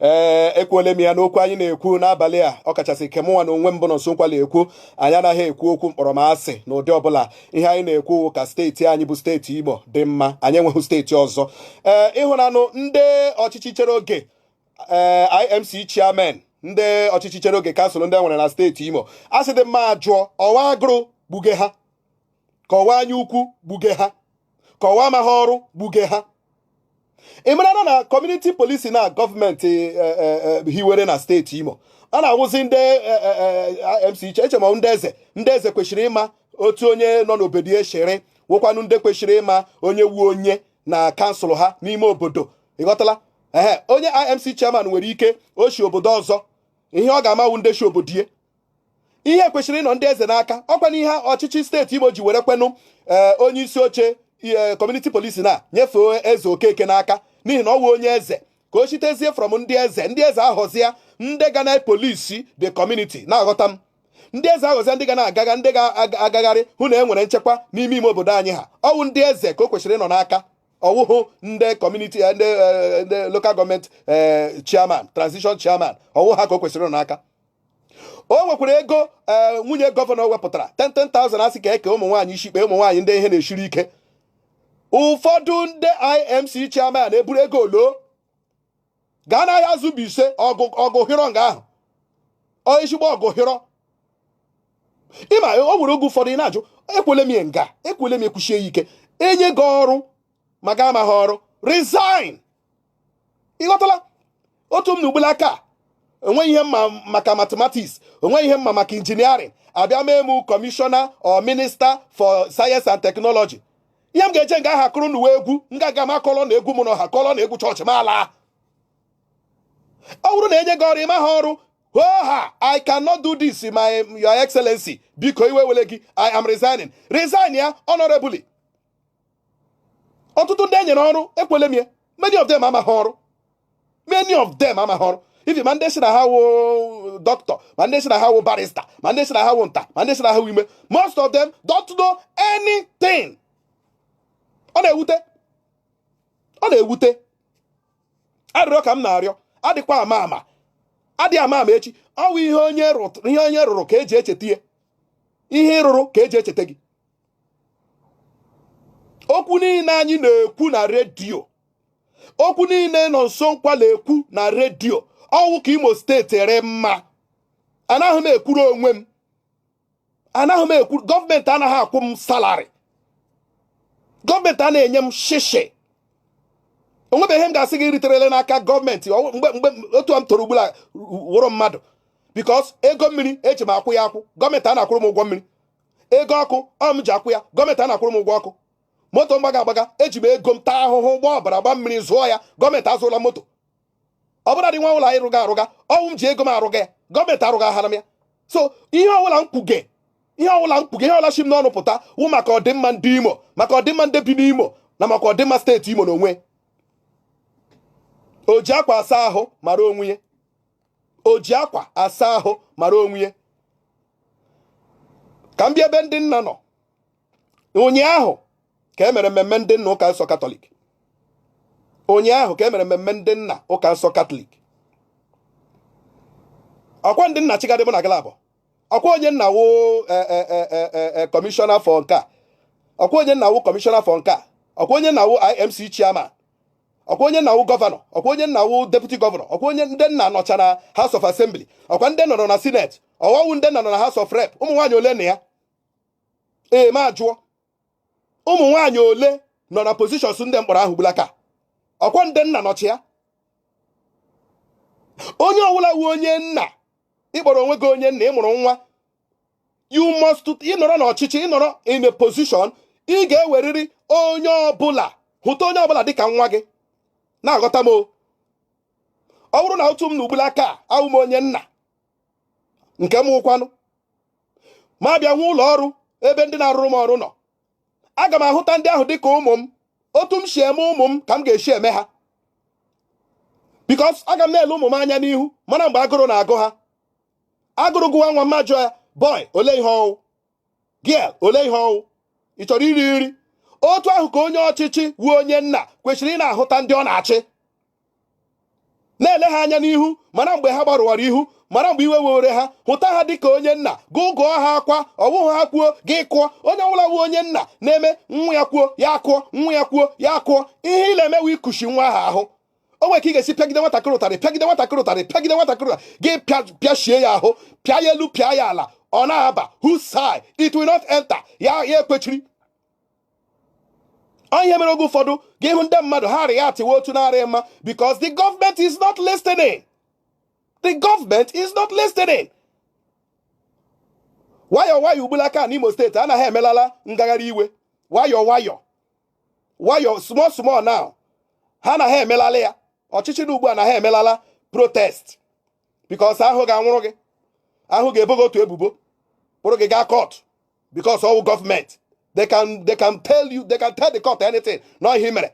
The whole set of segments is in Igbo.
ee eh, ekwuole m ya n'okwu anyị na-ekwu n'abalị a ọ kachasị nke mụnwa na onwe m bụ Nonso Nkwa na-ekwu anyị anaghị ekwu okwu mkpọrọ m asị na ụdị ọbụla ihe anyị na-ekwu ka steeti anyị bụ steeti Imo dị mma anyị enweghị steeti ọzọ ee eh, ị hụnanụ ndị ọchịchị chere oge ee eh, IMC chairman ndị ọchịchị chere oge kansụl ndị e nwere na steeti Imo a sị dị mma jụọ ọ wụ agụrụ gbuge ha ka ọ wụ anya ukwu gbuge ha ka ọ wụ amaghị ọrụ gbuge ha ị mara na kọmuniti polisin a gọọmenti eh, eh, eh, hiwere na steeti Imo ọ na-awụzi ndị IMC chairman ndị eze ndị eze kwesịrị ịma otu onye nọ n'obodo ya shiri wụkwanụ ndị kwesịrị ịma onye wụ onye na kansụl ha n'ime obodo ịghọtala ee onye IMC chairman nwere ike o shi obodo ọzọ ihe ọ ga-ama wụ ndị shi obodo ihe kwesịrị ịnọ ndị eze n'aka ọkwa na ihe ọchịchị steeti Imo ji were kwenụ eh, onye isi oche eh, kọmuniti polisin a nyefee Eze Okeke n'aka n'ihi na ọ wụ onye eze ka o shitezie from ndị eze ndị eze ahọzie ndị ga na polisi the community na-aghọta m ndị eze ahọzie ndị ga na-agaga ndị ga-agagharị hụ na e nwere nchekwa n'ime ime obodo anyị ha ọ wụ ndị eze ka o kwesịrị ịnọ n'aka ọ wụhụ ndị kọmuniti eh, ndị eh, lokal gọọmenti eh, chairman transition chairman ọ wụ ha ka o kwesịrị ịnọ n'aka o nwekwara ego eh, nwunye gọvanọ wepụtara 10,000 a sị ka e kee ụmụ nwaanyị isi mkpe ụmụ nwaanyị ndị ihe na-esiri ike ụfọdụ ndị IMC chairman eburu ego loo gaa n'Ahiazu Mbaise ọgụ hịrọ nga ahụ ezigbo ọgụ hịrọ ị ma o nwere oge ụfọdụ ị na-ajụ ekwuole m m ga-aka na-ekwusi ya ike e nye gị ọrụ ma gị amaghị ọrụ resign ịghọtala otu m nọ ugbula aka o nweghị ihe m ma maka mathematics o nweghị ihe m ma maka injiniarịn a bịa mee m kọmishọna or minista for sayensị and teknọlọji ihe m ga-eje nga ahụ akụrụ ụnụ wụ egwu m ga-aga m akọlọ na egwu m na ọha kọlọ na egwu chọọchị m ala ọ bụrụ na e nye gị ọrụ ị maha ọrụ oga i cannot do this my your excellency biko iwe ewele gị i am resigning resign ya honorably ọtụtụ ndị e nyere ọrụ ekwuole m ya many of them amaghị ọrụ many of them amaghị ọrụ even ma ndị sị na ha wụ dọkịta ma ndị sị na ha wụ barista ma ndị sị na ha wụ nta ma ndị sị na ha wụ imo most of them don't know anything ọ na-ewute ọ na-ewute arịrịọ ka m na-arịọ adịkwa ama ama adị ama ama echi ọ wụ ihe onye rụrụ ka e ji echeta ya ihe ị rụrụ ka e ji echeta gị okwu niile anyị na-ekwu na redio okwu niile Nọnsọ Nkwa na-ekwu na redio ọwụ ka imo steeti rị mma anaghị m ekwuru onwe m anaghị m ekwu gọọmenti anaghị akwụ m salari gọọmenti anaghị enye m shishi onwebeghị ihe m ga-asị gị riterele n'aka gọọmenti mgbe mgbe otu a m toro ugbula wụrụ mmadụ bikos ego mmiri eji m akwụ ya akwụ gọọmenti anaghị akwụrụ m ụgwọ mmiri ego ọkụ ọ m ji akwụ ya gọọmenti anaghị akwụrụ m ụgwọ ọkụ moto m gbaga agbaga eji m ego m taa ahụhụ gbaa ọbara gba mmiri zụọ ya gọọmenti azụla moto ọ bụla dị nwa ụlọ anyị rụga arụga ọwụ m ji ego m arụga ya gọọmenti arụgahara m ya so ihe ọbụla m kwuge ihe ọbụla m kwuge ihe ọbụla si m n'ọnụ pụta wụ maka ọdịmma ndị imo maka ọdịmma ndị bi n'imo na maka ọdịmma steeti imo na onwe o ji akwa asa ahụ mara onwe ya o ji akwa asa ahụ mara onwe ya ka m bịa ebe ndị nna nọ ụnyaahụ ka e mere mmemme ndị nna ụka nsọ katọlik ụnyaahụ ka e mere mmemme ndị nna ụka nsọ katọlik ọkwa ndị nna chigadị mụ na galabụ ọkwa onye nna wụ kọmishọna e, e, e, fọ nke a ọkwa onye nna wụ kọmishọna fọ nke a ọkwa onye nna wụ IMC chairman ọkwa onye nna wụ gọvanọ ọkwa onye nna wụ deputi gọvanọ ọkwa onye ndị nna nọcha na House of Assembly ọkwa ndị nna nọ na Senate ọwụhụ ndị nna nọ na House of Rep ụmụ nwaanyị ole nọ ya ee m ajụọ ụmụ nwaanyị ole nọ na positions ndị m kpọrọ ahụ gbulaka ọkwa ndị nna nọchi ya onye ọwụla wụ onye nna ị kpọrọ onwe gị onye nna ị mụrụ nwa you must ị nọrọ n'ọchịchị ị nọrọ in a position ị ga-ewerịrị onye ọbụla hụta onye ọbụla dịka nwa gị na-aghọta m o ọ wụrụ na otu m nọ ugbula aka awụ m onye nna nke m wụkwanụ ma bịa nwe ụlọ ọrụ ebe ndị na-arụrụ m ọrụ nọ aga m ahụta ndị ahụ dịka ụmụ m otu m si eme ụmụ m ka m ga-esi eme ha bikos aga m na-ele ụmụ m anya n'ihu mara mgbe agụrụ na-agụ ha agụrụ gụwa nwa m m ajụọ ya boy ole ihe ọwụ girl ole ihe ọwụ ị chọrọ iri nri otu ahụ ka onye ọchịchị wụ onye nna kwesịrị ịna-ahụta ndị ọ na-achị na-ele ha anya n'ihu mara mgbe ha gbarụwara ihu mara mgbe iwe were ha hụta ha dịka onye nna gugụọ ha akwa ọwụhụ ha kwuo gị kụọ onye ọbụla wụ onye nna na-eme nwa ya kwuo ya kụọ nwa ya kwuo ya kụọ ihe ị na-emewe ịkụshi nwa ahụ ahụ o nwere ka ị ga-esi pịagide nwatakịrị ụtarị pịagide nwatakịrị ụtarị pịagide nwatakịrị gị pịachie ya ahụ pịa ya elu pịa ya ala ọ na-aba whose side it will not enter ya ya ekwechiri ọ ya mere oge ụfọdụ gị hụ ndị mmadụ ha arịghị atịwa otu na-arị mma because the government is not listening the government is not listening nwayọọ nwayọọ ugbulaka n'Imo steeti anaghị emelala ngagharị iwe nwayọọ nwayọọ nwayọọ small small now ha anaghị emelala ya ọchịchị nọ ugbu a anaghị emelala protest because ha ga-anwụrụ gị ha ga-ebo gị otu ebubo kpụrụ gị gaa court because ọ wụ government they can they can tell you they can tell the court anything na ihe mere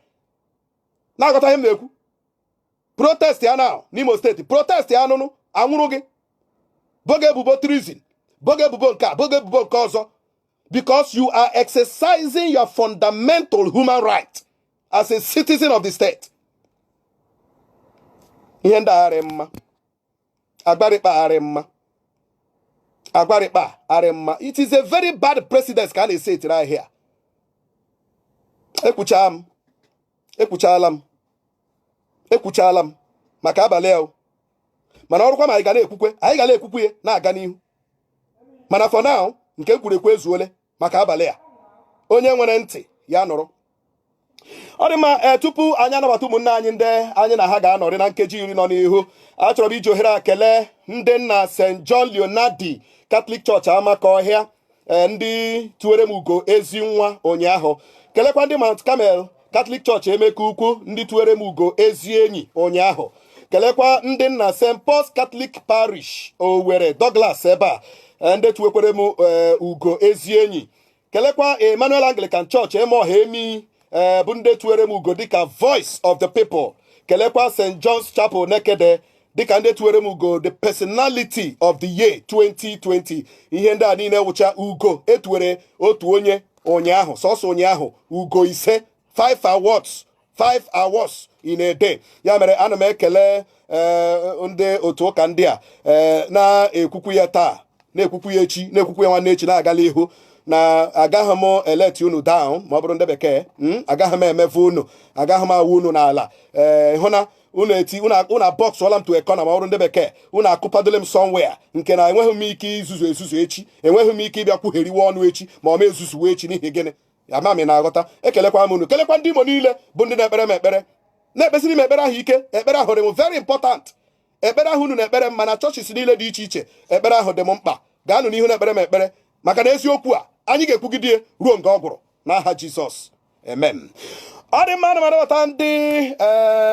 na-aghọta ihe m na-ekwu protest ya na n'Imo steeti protest ya anụnụ a nwụrụ gị bo gị ebubo treason bo gị ebubo nke a bo gị ebubo nke ọzọ because you are exercising your fundamental human right as a citizen of the state. ihe ndị a agharị mma agwa rị kpa agharị mma agwa rị kpa agharị mma it is a very bad precedent ka a na-esetiri here ekwuchaa m ekwuchaala m ekwuchaala m maka abalị a mana ọrụkwa ma anyị ga na-ekwukwe anyị ga na-ekwukwe ya na-aga n'ihu mana for now nke m kwuru ekwu ezuole maka abalị a onye nwere ntị ya nụrụ ọ dị mma ee eh, tupu anyị anabata ụmụnne anyị ndị anyị na ha ga-anọrị na nkeji iri nọ n'ihu achọrọ m iji ohere a kelee ndị nna St John Leonardi Catholic Church Amakọhịa eh, ndị tuwere m ugo ezi nwa ụnyaahụ kelekwa ndị Mount Carmel Catholic Church Emekukwu ndị tuwere m ugo ezi enyi ụnyaahụ kelekwa ndị nna st paul's Catholic parish owere douglas ebe a eh, ndị tuwekwere m eh, ugo ezi enyi kelekwa emmanuel Anglican Church Emeohe Emii bụ ndị tuwere m ugo dịka voice of the people kelekwa st john's chapel nekede dịka ndị tuwere m ugo the personality of the year 2020 ihe ndị a niile wụcha ugo e tuwere otu onye ụnyaahụ sọsọ ụnyaahụ ugo ise 5 awards 5 awards in a day ya mere ana m ekele eh, ndị otu ụka ndị a eh, na-ekwukwu ya taa na-ekwukwu ya echi na-ekwukwu ya nwanne echi na-agala ihu na agaghị m eleti unu down ma ọ bụrụ ndị bekee hmm? agaghị m emefu unu agaghị m awụ unu n'ala ee eh, hụ na unu eti unu abọksụọla m to a corner ma ọ bụrụ ndị bekee unu akụpadole m somewhere nke na enweghị m ike izuzu ezuzu echi enweghị m ike ịbịa kwugheriwe ọnụ echi ma ọ ma ezuzuwe echi n'ihi gịnị ama m na-aghọta ekelekwa m unu kelekwa ndị Imo niile bụ ndị na-ekpere m ekpere na-ekpesiri m ekpere ahụ ike ekpere ahụ dị m very important ekpere ahụ unu na-ekpere m na churches niile dị iche iche ekpere ahụ dị m mkpa gaanụ n'ihu na-ekpere m ekpere maka na eziokwu a anyị ga-ekwugide ruo nga ọ gwụrụ n'aha Jizọs amen ọ dị mma na ndị eh,